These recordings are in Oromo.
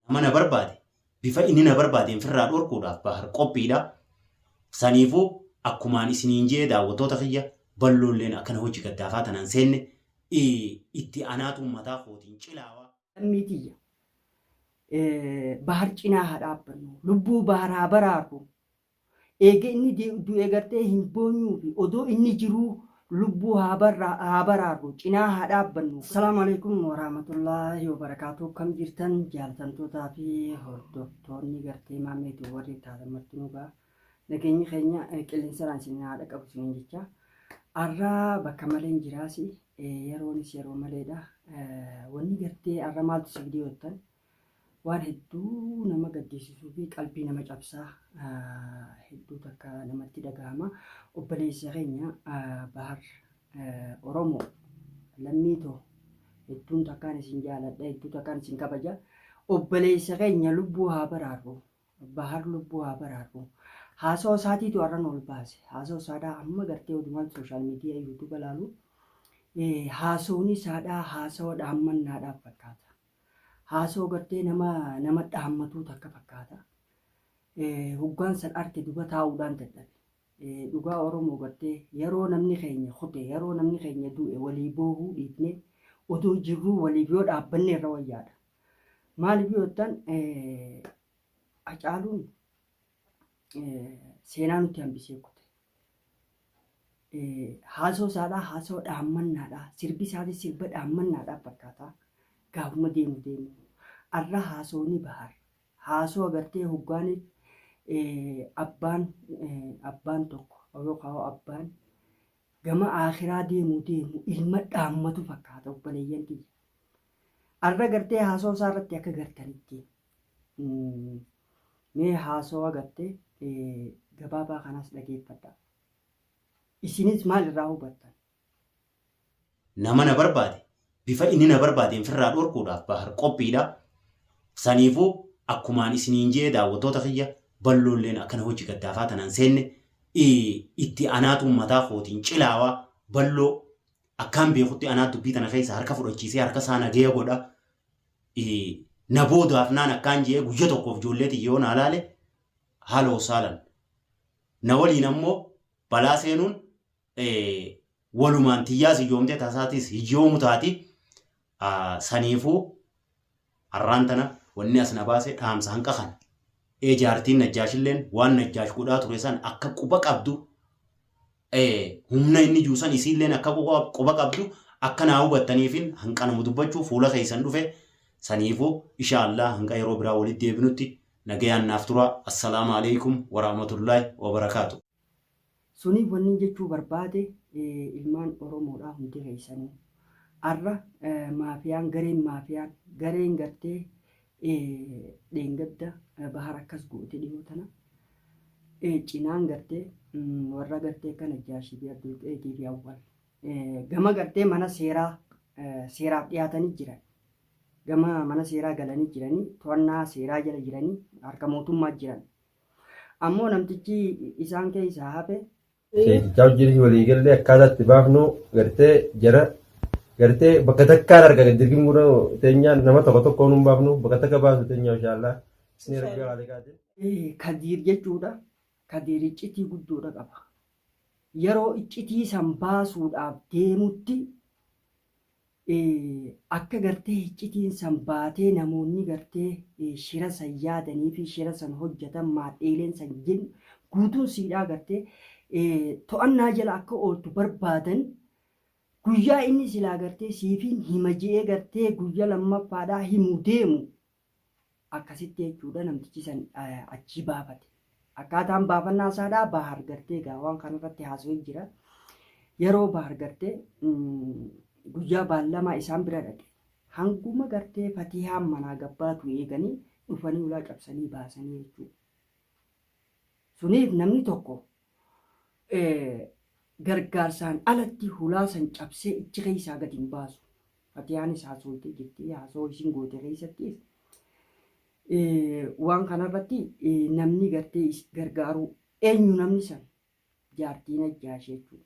Nama na barbaade bifa inni na barbaadeen firraa dhorkuudhaaf bahar qophiidha. Saniifuu akkumaan isiniin je'e daawwattoota kiyya balloolleen akkana hojii gaddaafaa tanaan seenne itti anaatu ummataa kootiin cilaawa. Lammii tiyya bahar cinaa haa dhaabbannu lubbuu bahar haa baraarru Eega inni du'e gartee hin boonyuufi odoo inni jiruu lubbuu haa baraarru, cinaa haa dhaabbannu. Assalaamu Aleykum Warahmatullaahi Wabarakaatuh Akkam jirtan jaallatamtootaa fi hordoftoonni gartee Maammee Tube warri taatan martinuu gaa nageenyi keenya qilleensaraan isin haa dhaqabu isiniin jecha arra bakka maleen jiraasi yeroonis yeroo maleedha wanni gartee arra maaltu si fidee jettan Waan hedduu nama gaddiisisuu fi qalbii nama cabsaa hedduu takka namatti dhagahama. Obboleessa keenya Bahar Oromoo lammii too hedduun takkaan isin jaaladha hedduu takkaan isin kabaja. Obboleessa keenya lubbuu haa baraarru. Bahar lubbuu haa baraarru. Haasoo isaatiitu har'an ol baase. Haasoo isaadhaa amma gartee odumaan sooshaal miidiyaa yuutuuba laalu. Haasoon isaadhaa haasawa dhaammannaadhaaf fakkaata. Haasoo gartee nama nama dhaammatuu takka fakkaata. Eh, Hoggaan san arke duba taa'uudhaan dadhabe. Eh, Dhugaa Oromoo gartee yeroo namni keenya kute, yeroo namni keenya du'e walii boohuu dhiifnee odoo jirruu waliif yoo dhaabbanne irra wayyaadha. Maaliif yoo jettan eh, Hacaaluun seenaa nutti hambisee kute. Haasoo isaadhaa haasoo dhaammannaadhaa sirbi isaatis sirba dhaammannaadhaa fakkaataa gaafuma deemu deemu. Arra haasooni bahar haasoo agartee hoggaaniif abbaan abbaan tokko yookaan abbaan gama aakiraa deemu deemu ilma dhaammatu fakkaata obboleeyyan kiyya. Arra gartee haasoo isaa irratti akka gartanitti Mm, Mee haasawa gattee eh, gabaabaa kanas dhageeffadha. Isinis maal irraa hubattan? Nama na barbaade bifa inni na barbaadeen firraa dhorkuudhaaf bahar qophiidha. Saniifuu akkumaan isiniin jee daawwattoota kiyya balloolleen akkana hojii gaddaafaa tanaan seenne i- itti anaatuun mataa kootiin cilaawaa balloo akkaan beekutti anaa dubbii tana keessa harka fudhachiisee harka isaa nageeya godha. na booda hafnaan akkaan je'ee guyya tokkoof ijoollee tiyya yoo naa laale haala wasaalan na waliin ammoo balaa seenuun walumaan tiyyaas hiyyoomtee taasaatis hiyyoomu taati saniifuu har'aan tana wanni as na baase dhaamsa hanqa kana ee jaartiin najjaashilleen waan najjaash godhaa ture san akka quba qabdu humna inni jiru san isiilleen akka quba qabdu akka naa hubattaniifin hanqanuma dubbachuu fuula keessan dhufe saniifuu isha Allah hanqa yeroo biraa walitti deebinutti nagayaan naaf tura assalaamu alaikum warahmatullahi wabarakaatu. Suniif wannin jechuu barbaade ilmaan Oromoodhaa hundi keessanuu arra maafiyaan gareen maafiyaan gareen gartee Dheengadda bahar akkas goote dhihoo tana cinaan gartee warra gartee kan Najjaashii fi Abdulqeetii fi Awwal gama gartee mana seeraa seeraaf dhiyaatanii jiran gama mana seeraa galanii jiranii to'annaa seeraa jala jiranii harka mootummaa jiran ammoo namtichi isaan keessaa hafe Seetichaa wajjinis walii gallee akkaataa itti baafnu gartee jara gartee bakka takkaan arga gaddirgin guna teenyaa nama tokko tokkoon hin baafnu bakka takka baasu teenyaa inshaallaa. Isni rabbi haalikaatiin. Kadiir jechuudha. Kadiir iccitii guddoodha qaba. Yeroo iccitii san baasuudhaaf deemutti Akka gartee hiccitiin san baatee namoonni gartee shira san yaadanii fi shira san hojjatan maadheeleen san jin guutuun siidhaa gartee to'annaa jala akka ooltu barbaadan guyyaa inni silaa gartee siifiin hima je'ee gartee guyya lammaffaadhaa himu deemu Akkasitti jechuudha namtichi san achii baafate. Akkaataan baafannaa isaadhaa Baahar gartee egaa waan kanarratti haasawee jira. Yeroo Baahar gartee guyyaa baallamaa isaan bira dhaqe. Hanguma gartee fatihaan manaa gabbaatu eeganii dhufanii ulaa cabsanii baasanii jechuudha. Suniif namni tokko gargaarsaan alatti hulaa san cabsee ichi keessaa gad hin baasu. Fatiyaanis haasooytee jirti. Haasoo isin goote keessattis waan kanarratti namni gartee gargaaruu eenyu namni san jaartiin ajjaashee jechuudha.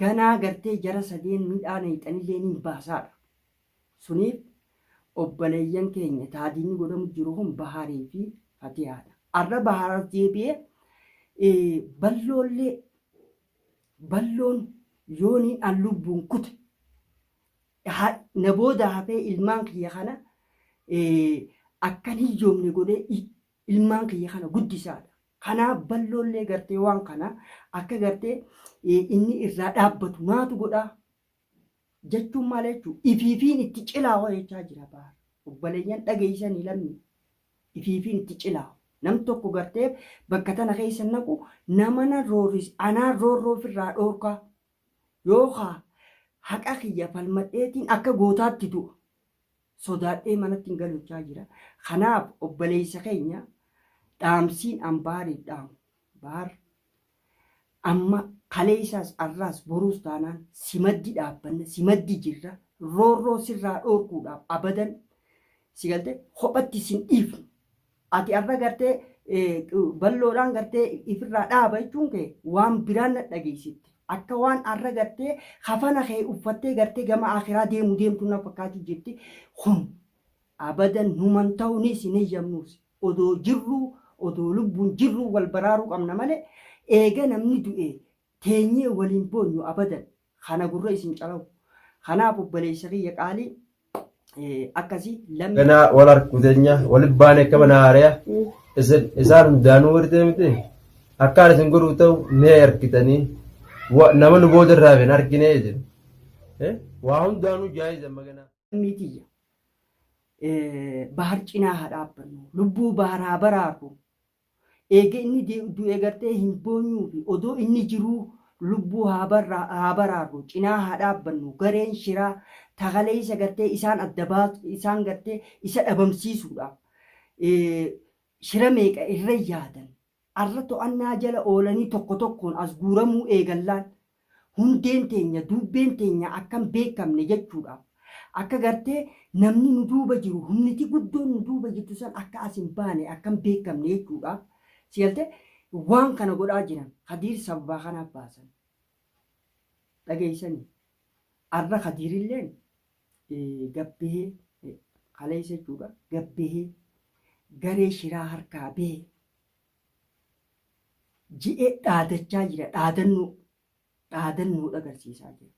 ganaa gartee jara sadeen midhaa nayxanillee ni hin baasaadha suniif obbaleeyyan keenya taa diinni godhamu jiru kun bahaarii fi fatiyaadha arra bahaar as deebi'ee eh, balloollee balloon yoonii an lubbuun kute ha- na booda hafee ilmaan kiyya kana eh, akkan hiyyoomne godhee i- ilmaan kiyya kana guddisaadha Kanaaf balloollee gartee waan kana akka gartee inni irraa dhaabbatu maatu godhaa jechuun maal jechuu ifiifiin itti cilaawa jechaa jira baar obboleeyyan dhageessanii lammii ifiifiin itti cilaawa nam tokko gartee bakka tana keessa naqu namana rooris anaa roorroo ofirraa dhoorkaa yookaa haqa kiyya falmadheetiin akka gootaatti du'a sodaadhee manatti hin galuchaa jira. Kanaaf obboleessa keenya dhaamsiin an baariif dhaamu baar amma kaleessaas arraas boruus taanaan si maddi dhaabbanna si maddi jirra roorroo sirraa dhoorkuudhaaf abadan si galte kophatti sin dhiifnu Ati har'a gartee balloodhaan gartee ifirraa dhaaba jechuun kee waan biraan na dhageessitte. Akka waan har'a gartee kafana kee uffattee gartee gama akiraa deemu deemtu na fakkaati jirti. Kun abadan numan ta'unis hin eeyyamnuus. Odoo jirruu odoo lubbuun jirruu wal baraaruu qabna malee eega namni du'ee teenyee wal hin boonyu abadan kana gurra isin calawu kanaaf obboleessa kiyya qaalii akkasii lammii Ganaa wal harku teenya wal baane akka mana haaraya isin isaan hundaanuu wartee miti akkaan isin godhu ta'u ni harkitanii wa- nama nu booda irraa hin harkine jedhu. Eh, Waa hundaanuu jaayiza maganaa. lammii tiyya eh, bahar cinaa haa dhaabbannu lubbuu baharaa baraarru Eega inni du'e gartee hin boonyuufi odoo inni jiruu lubbuu haa baraarru, cinaa haa dhaabbannu, gareen shiraa ta kaleessa gartee isaan adda baatu, isaan gartee isa dhabamsiisuudhaaf shira meeqa irra yaadan, arra to'annaa jala oolanii tokko tokkoon as guuramuu eegallaan Hundeen teenya, duubbeen teenya akka hin beekamne jechuudhaaf. Akka gartee namni nu duuba jiru, humniti guddoon nu duuba jirtu san akka as hin baane, akka hin beekamne jechuudhaaf si galtee waan kana godhaa jiran. Kadiir sababaa kanaaf baasan. Dhageessanii? Arra Kadiirilleen gabbehee kaleessa jechuudha gabbehee garee shiraa harkaa behe. jedhee dhaadachaa jira. Dhaadannoo dhaadannoodha agarsiisaa jira.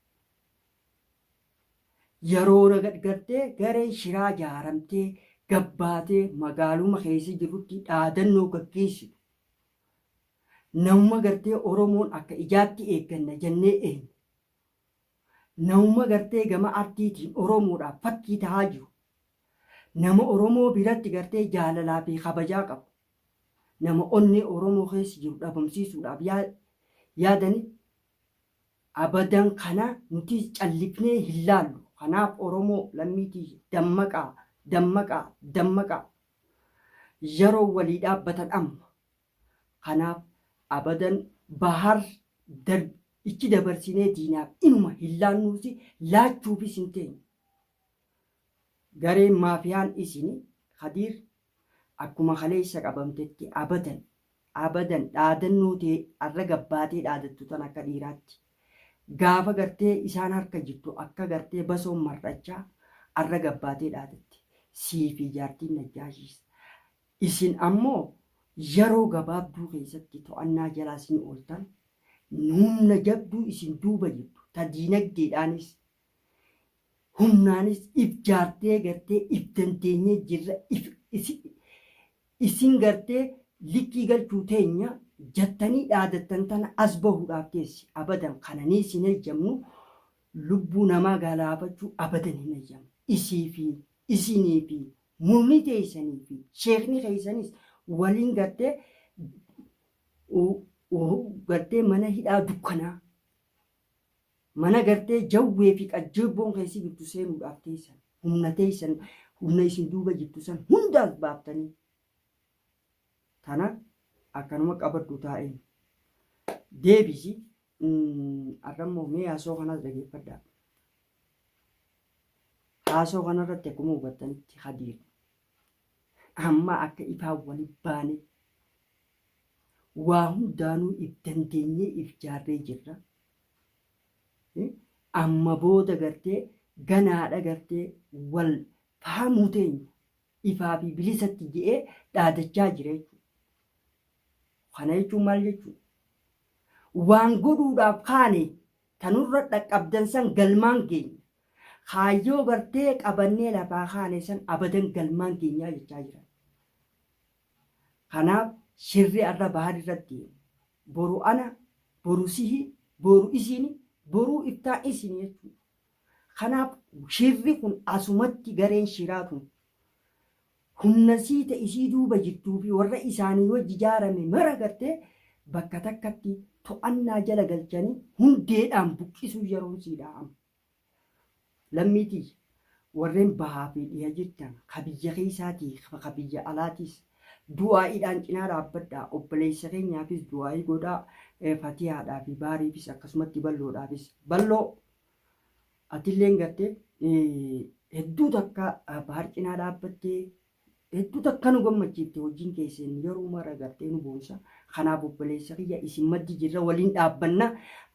Yeroo nagadgartee gareen shiraa jaaramtee gabbaatee magaaluma keessa jirutti dhaadannoo gaggeessitu. Namuma gartee Oromoon akka ijaatti eegganna jennee eenyu. Namuma gartee gama artiitiin Oromoodhaaf fakkii tahaa jiru. Nama Oromoo biratti gartee jaalalaa fi kabajaa qabu. nama onnee Oromoo keessa jiru dhabamsiisuudhaaf yaadani abadan kana nuti callifnee hin laallu kanaaf Oromoo lammii tiyya dammaqaa dammaqaa dammaqaa yaroon walii dhaabbatan amma kanaaf abadan Bahar Dar ichi dabarsinee diinaaf inuma hin laannuusi laachuufis hin teenyu. Gareen maafiyaan isin Kadiir akkuma kaleessa qabamtetti abadan abadan dhaadannoo tee arra gabbaatee dhaadattu tana akka dhiiraatti gaafa gartee isaan harka jirtu akka gartee basoon mar'achaa arra gabbaatee dhaadatte sii fi jaartiin Najjaashiis isin ammoo yeroo gabaabduu keessatti to'annaa jalaa sin ooltan humna jabduu isin duuba jirtu ta diinagdeedhaanis humnaanis if jaartee gartee if dandeenyee jirra if isin gartee likkii galchuu teenya jattanii dhaadattan tana as bahuudhaaf teessi abadan kananiis hin heyyamnu lubbuu namaa galaafachuu abadan hin heyyamnu isii fi isinii fi murnii teessanii fi sheekni keessanis waliin gartee gartee mana hidhaa dukkanaa Mana gartee jawwee fi qajjeebboon kee si bittu seenuudhaaf teessan, humna teessan, humna isin duuba jirtu san hunda as baaftanii. Tana akkanuma qabadhu taa'een. Deebisi arrammoo mee haasoo kanas dhageeffadhaa. Haasoo kanarratti akkuma hubattanitti Khadiir Ammaa akka ifaa wali baane waa hundaanuu if dandeenyee if jaarree jirra. Amma booda gartee ganaadha gartee wal fahamuu teenya ifaa fi bilisatti je'ee dhaadachaa jira jechuudha. Kana jechuun maal jechuudha? Waan godhuudhaaf kaane Ta nurra dhaqqabdan san galmaan geenya. Kaayyoo gartee qabannee lafaa kaane san abadan galmaan geenyaa jechaa jiran. Kanaaf shirri arra Bahar irra deemu. Boru ana, boru sihi, boru isini, boruu ittaan isini jechuudha. Kanaaf shirri kun asumatti gareen shiraa kun Humna sii ta isii duuba jirtuu fi warra isaanii wajji jaarame mara gartee bakka takkatti to'annaa jala galchanii hundeedhaan buqqisuu yeroon sii dha amma. Lammii tiyya, warreen bahaa fi dhiha jirtan, ka biyya keessaatii fi ka biyya alaatiis, du'aa'iidhaan cinaa dhaabbadhaa, obboleessa keenyaafis du'aa'ii godhaa, Fatihaadhaa fi Bahariifis akkasumatti balloodhaafis. Balloo! Atilleen garte hedduu takka bahar cinaa dhaabbattee hedduu takka nu gammachiifte hojiin keesseen yeroo mara gartee nu boonsa. Kanaaf obboleessa kiyya isin maddi jirra waliin dhaabbanna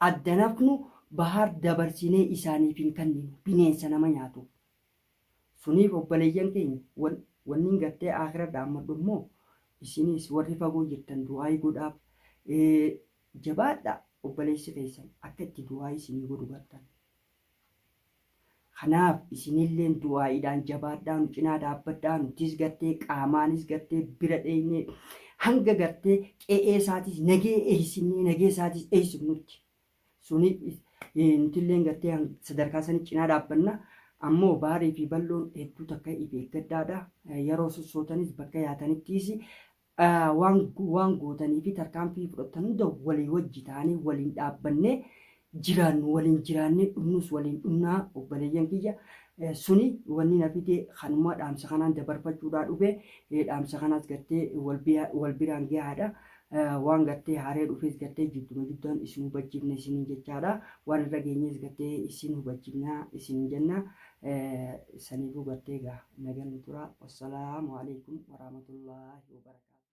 addanafnu bahar dabarsinee isaaniif hin kenninu bineensa nama nyaatu. Suniif obboleeyyan keenya wan, wannin gartee aakhira dhaammadhu immoo isinis warri fagoo jirtan du'aayi godhaaf. Ee, jabaadhaa obboleessi keessan akka itti du'aayi isinii godhu bartan. Kanaaf isinilleen du'aayiidhaan jabaadhaa nu cinaa dhaabbadhaa nutis gartee qaamaanis gartee bira dheeynee hanga gartee qe'ee isaatis nagee eeysinnee nagee isaatis eeysifnutti Suni nutilleen gartee sadarkaa sanii cinaa dhaabbanna. Ammoo baarii fi bal'oon hedduu takka ifi eeggadhaadha. Yeroo sossootanis bakka yaatanittiis waan waan gootanii fi tarkaanfii fudhattan hunda walii wajji taanee waliin dhaabbannee jiraannu waliin jiraannee dhumnus waliin dhumnaa obboleeyyan kiyya. Suni wanni na fide kanuma dhaamsa kanaan dabarfachuudhaa dhufe. Dhaamsa kanaas gartee wal biraan gahaadha. Waan gartee haaree dhufees gartee jidduma jiddaan isin hubachiifna isiniin jechaadha. Waan irra geenyees gartee isin hubachiifna isiniin jenna. Saniifuu gartee egaa nagaan nu tura. Wassalaamu alaikum warahmatullaahi wabarakaatu.